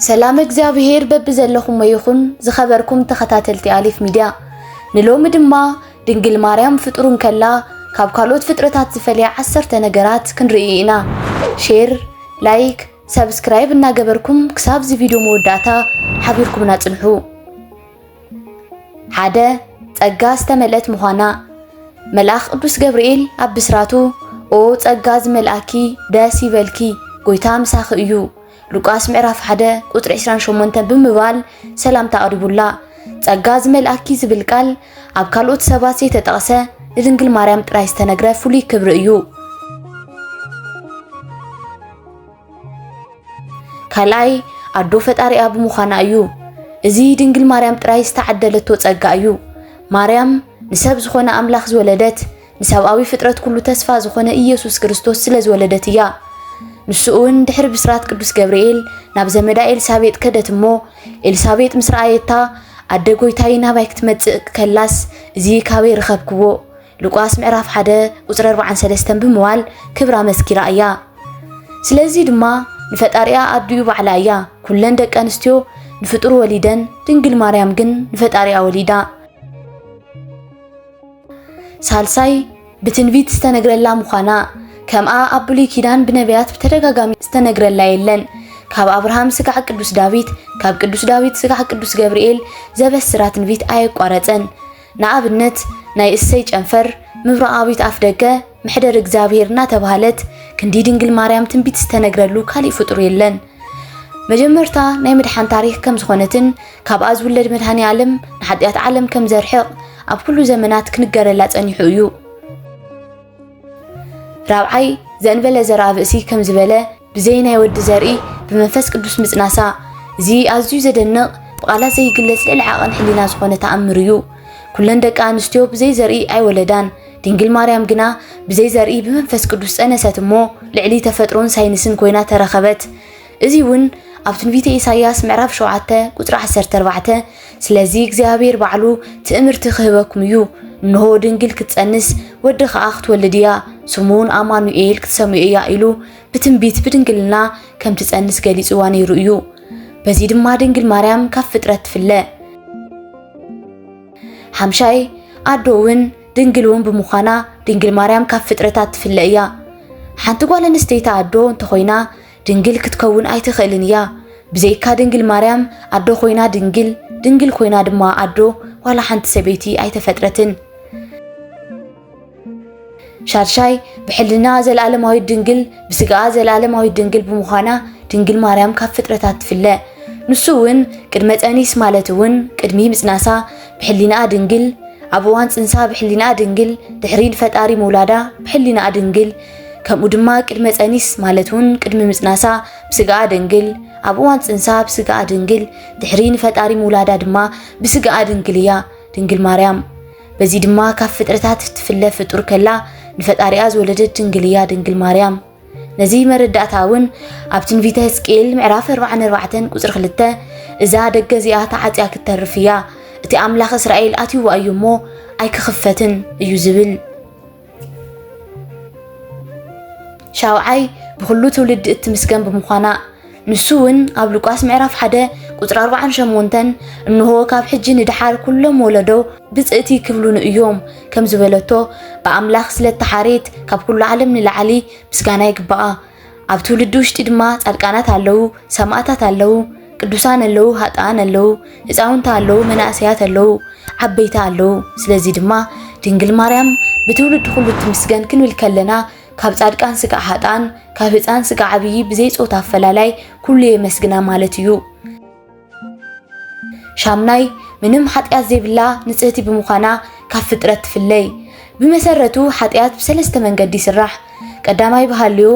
ሰላም እግዚኣብሄር በብዘለኹሞ ይኹን ዝኸበርኩም ተኸታተልቲ ኣሊፍ ሚድያ ንሎሚ ድማ ድንግል ማርያም ፍጡር እንከላ ካብ ካልኦት ፍጥረታት ዝፈልያ ዓሰርተ ነገራት ክንርኢ ኢና ሼር ላይክ ሰብስክራይብ እናገበርኩም ክሳብ እዚ ቪድዮ መወዳእታ ሓቢርኩምና ጽንሑ ሓደ ጸጋ ዝተመልአት ምዃና መልኣኽ ቅዱስ ገብርኤል ኣብ ብስራቱ ኦ ጸጋ ዝመልኣኪ ደስ ይበልኪ ጎይታ ምሳኺ እዩ ሉቃስ ምዕራፍ 1 ቁጥሪ 28 ብምባል ሰላምታ ኣቕሪቡላ። ጸጋ ዝመልኣኪ ዝብል ቃል ኣብ ካልኦት ሰባት ዘይተጠቕሰ ንድንግል ማርያም ጥራይ ዝተነግረ ፍሉይ ክብሪ እዩ። ካልኣይ ኣዶ ፈጣሪኣ ብምዃና እዩ። እዚ ድንግል ማርያም ጥራይ ዝተዓደለቶ ጸጋ እዩ። ማርያም ንሰብ ዝኾነ ኣምላኽ ዝወለደት ንሰብኣዊ ፍጥረት ኩሉ ተስፋ ዝኾነ ኢየሱስ ክርስቶስ ስለ ዝወለደት እያ። ንሱ እውን ድሕሪ ብስራት ቅዱስ ገብርኤል ናብ ዘመዳ ኤልሳቤጥ ከደት እሞ ኤልሳቤጥ ምስ ረኣየታ ኣደ ጎይታይ ናባይ ክትመጽእ ከላስ እዚ ካበይ ርኸብክዎ ሉቃስ ምዕራፍ ሓደ ቁፅሪ ኣርባዓን ሰለስተን ብምባል ክብራ መስኪራ እያ። ስለዚ ድማ ንፈጣሪኣ ኣዲኡ ባዕላ እያ። ኩለን ደቂ ኣንስትዮ ንፍጡር ወሊደን፣ ድንግል ማርያም ግን ንፈጣሪኣ ወሊዳ። ሳልሳይ ብትንቢት ዝተነግረላ ምዃና ከምኣ ኣብ ብሉይ ኪዳን ብነቢያት ብተደጋጋሚ ዝተነግረላ የለን። ካብ ኣብርሃም ስጋዕ ቅዱስ ዳዊት፣ ካብ ቅዱስ ዳዊት ስጋዕ ቅዱስ ገብርኤል ዘበስራ ትንቢት ኣየቋረፀን። ንኣብነት ናይ እሰይ ጨንፈር ምብራቓዊት ኣፍደገ መሕደር እግዚኣብሔር እናተባህለት ክንዲ ድንግል ማርያም ትንቢት ዝተነግረሉ ካሊእ ፍጡር የለን። መጀመርታ ናይ ምድሓን ታሪክ ከም ዝኾነትን ካብኣ ዝውለድ መድሃኒ ኣለም ንሓጢኣት ዓለም ከም ዘርሕቕ ኣብ ኩሉ ዘመናት ክንገረላ ጸኒሑ እዩ። ራብዓይ ዘእንበለ ዘርኣ ብእሲ ከም ዝበለ ብዘይ ናይ ወዲ ዘርኢ ብመንፈስ ቅዱስ ምጽናሳ እዚ ኣዝዩ ዘደንቕ ብቓላት ዘይግለጽ ልዕሊ ዓቐን ሕሊና ዝኾነ ተኣምር እዩ። ኩለን ደቂ ኣንስትዮ ብዘይ ዘርኢ ኣይወለዳን፣ ድንግል ማርያም ግና ብዘይ ዘርኢ ብመንፈስ ቅዱስ ጸነሰት እሞ ልዕሊ ተፈጥሮን ሳይንስን ኮይና ተረኸበት። እዚ እውን ኣብ ትንቢተ ኢሳይያስ ምዕራፍ 7 ቁጽሪ 14 ስለዚ እግዚኣብሔር ባዕሉ ትእምርቲ ክህበኩም እዩ። እንሆ ድንግል ክትጸንስ ወዲ ከኣ ክትወልድ እያ ስሙውን ኣማኑኤል ክትሰምዮ እያ ኢሉ ብትንቢት ብድንግልና ከም ትጸንስ ገሊጽዋ ነይሩ እዩ። በዚ ድማ ድንግል ማርያም ካብ ፍጥረት ትፍለ። ሓምሻይ ኣዶ እውን ድንግል እውን ብምዃና ድንግል ማርያም ካብ ፍጥረታት ትፍለ እያ። ሓንቲ ጓል ኣንስተይቲ ኣዶ እንተኾይና ድንግል ክትከውን ኣይትኽእልን እያ። ብዘይካ ድንግል ማርያም ኣዶ ኮይና ድንግል፣ ድንግል ኮይና ድማ ኣዶ ዋላ ሓንቲ ሰበይቲ ኣይተፈጥረትን። ሻድሻይ ብሕልና ዘለኣለማዊት ድንግል ብስጋኣ ዘለኣለማዊት ድንግል ብምዃና ድንግል ማርያም ካብ ፍጥረታት ትፍለ ንሱ እውን ቅድመ ፀኒስ ማለት እውን ቅድሚ ምፅናሳ ብሕሊናኣ ድንግል ኣብ እዋን ፅንሳ ብሕሊናኣ ድንግል ድሕሪ ንፈጣሪ ምውላዳ ብሕሊናኣ ድንግል ከምኡ ድማ ቅድመ ጸኒስ ማለት እውን ቅድሚ ምጽናሳ ብስጋኣ ድንግል ኣብ እዋን ጽንሳ ብስጋኣ ድንግል ድሕሪ ንፈጣሪ ምውላዳ ድማ ብስጋኣ ድንግል እያ ድንግል ማርያም በዚ ድማ ካብ ፍጥረታት ትፍለ ፍጡር ከላ ንፈጣሪኣ ዝወለደት ድንግል እያ ድንግል ማርያም ነዚ መረዳእታ እውን ኣብ ትንቢተ ህዝቅኤል ምዕራፍ 44 ቁፅሪ 2 እዛ ደገ እዚኣ ተዓፅያ ክትተርፍ እያ እቲ ኣምላኽ እስራኤል ኣትይዋ እዩ እሞ ኣይክኽፈትን እዩ ዝብል ሻውዓይ ብኹሉ ትውልዲ እትምስገን ብምዃና ንሱ እውን ኣብ ሉቃስ ምዕራፍ ሓደ ቁፅሪ ኣርባዓን ሸሞንተን እንሆ ካብ ሕጂ ንድሓር ኩሎም ወለዶ ብፅእቲ ክብሉኑ እዮም ከም ዝበለቶ ብኣምላኽ ስለተሓሬት ካብ ኩሉ ዓለም ንላዕሊ ምስጋና ይግባኣ። ኣብ ትውልዲ ውሽጢ ድማ ጻድቃናት ኣለዉ፣ ሰማእታት ኣለዉ፣ ቅዱሳን ኣለዉ፣ ሃጣን ኣለዉ፣ ህፃውንቲ ኣለዉ፣ መናእሰያት ኣለዉ፣ ዓበይቲ ኣለዉ። ስለዚ ድማ ድንግል ማርያም ብትውልዲ ኩሉ ትምስገን ክንብል ከለና ካብ ጻድቃን ስጋዕ ሃጣን ካብ ህፃን ስጋዕ ዓብዪ ብዘይ ፆታ ኣፈላላይ ኩሉ የመስግና ማለት እዩ። ሻምናይ ምንም ሓጢኣት ዘይብላ ንጽህቲ ብምዃና ካብ ፍጥረት ትፍለይ። ብመሰረቱ ሓጢኣት ብሰለስተ መንገዲ ይስራሕ። ቀዳማይ ብሃልዮ፣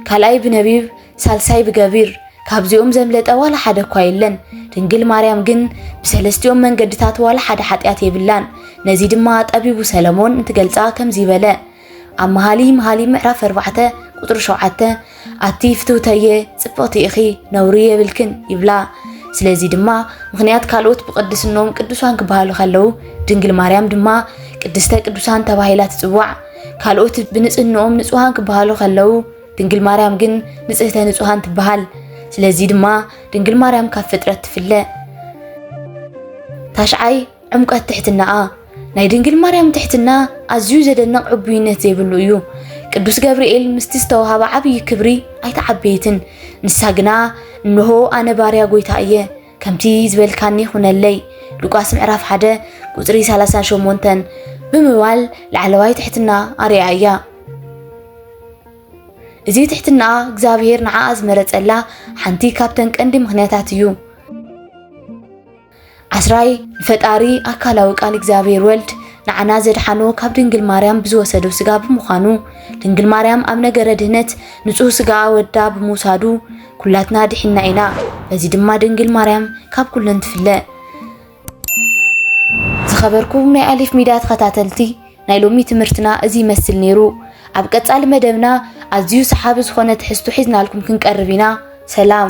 ካልኣይ ብነቢብ፣ ሳልሳይ ብገቢር። ካብዚኦም ዘምለጠ ዋላ ሓደ እኳ የለን። ድንግል ማርያም ግን ብሰለስቲኦም መንገድታት ዋላ ሓደ ሓጢኣት የብላን። ነዚ ድማ ጠቢቡ ሰለሞን እንትገልጻ ከምዚ በለ ኣብ መሃሊ መሃሊ ምዕራፍ ኣርባዕተ ቁፅሪ ሸውዓተ ኣቲ ፍትውተየ ፅብቕቲ ኢኺ ነውሪ የብልክን ይብላ ስለዚ ድማ ምክንያት ካልኦት ብቅድስኖም ቅዱሳን ክበሃሉ ከለው ድንግል ማርያም ድማ ቅድስተ ቅዱሳን ተባሂላ ትፅዋዕ። ካልኦት ብንፅህንኦም ንፁሃን ክበሃሉ ከለው ድንግል ማርያም ግን ንፅህተ ንፁሃን ትበሃል። ስለዚ ድማ ድንግል ማርያም ካብ ፍጥረት ትፍለ። ታሽዓይ ዕምቀት ትሕትናኣ ናይ ድንግል ማርያም ትሕትና ኣዝዩ ዘደንቕ ዕቡይነት ዘይብሉ እዩ። ቅዱስ ገብርኤል ምስቲ ዝተዋህባ ዓብዪ ክብሪ ኣይተዓበየትን። ንሳ ግና እንሆ ኣነ ባርያ ጎይታ እየ ከምቲ ዝበልካኒ ይኹነለይ ሉቃስ ምዕራፍ 1 ቁፅሪ 38 ብምባል ላዕለዋይ ትሕትና ኣርያ እያ። እዚ ትሕትናኣ እግዚኣብሄር ንዓኣ ዝመረፀላ ሓንቲ ካብተን ቀንዲ ምክንያታት እዩ። ዓስራይ ንፈጣሪ ኣካላዊ ቃል እግዚኣብሔር ወልድ ንዓና ዘድሓኖ ካብ ድንግል ማርያም ብዝወሰዶ ስጋ ብምዃኑ ድንግል ማርያም ኣብ ነገረ ድህነት ንጹህ ስጋ ወዳ ብምውሳዱ ኩላትና ድሒና ኢና። በዚ ድማ ድንግል ማርያም ካብ ኩለን ትፍለ። ዝኸበርኩም ናይ ኣሊፍ ሚድያ ተኸታተልቲ ናይ ሎሚ ትምህርትና እዚ ይመስል ነይሩ። ኣብ ቀጻሊ መደብና ኣዝዩ ሰሓቢ ዝኾነ ትሕዝቶ ሒዝናልኩም ክንቀርብ ኢና። ሰላም።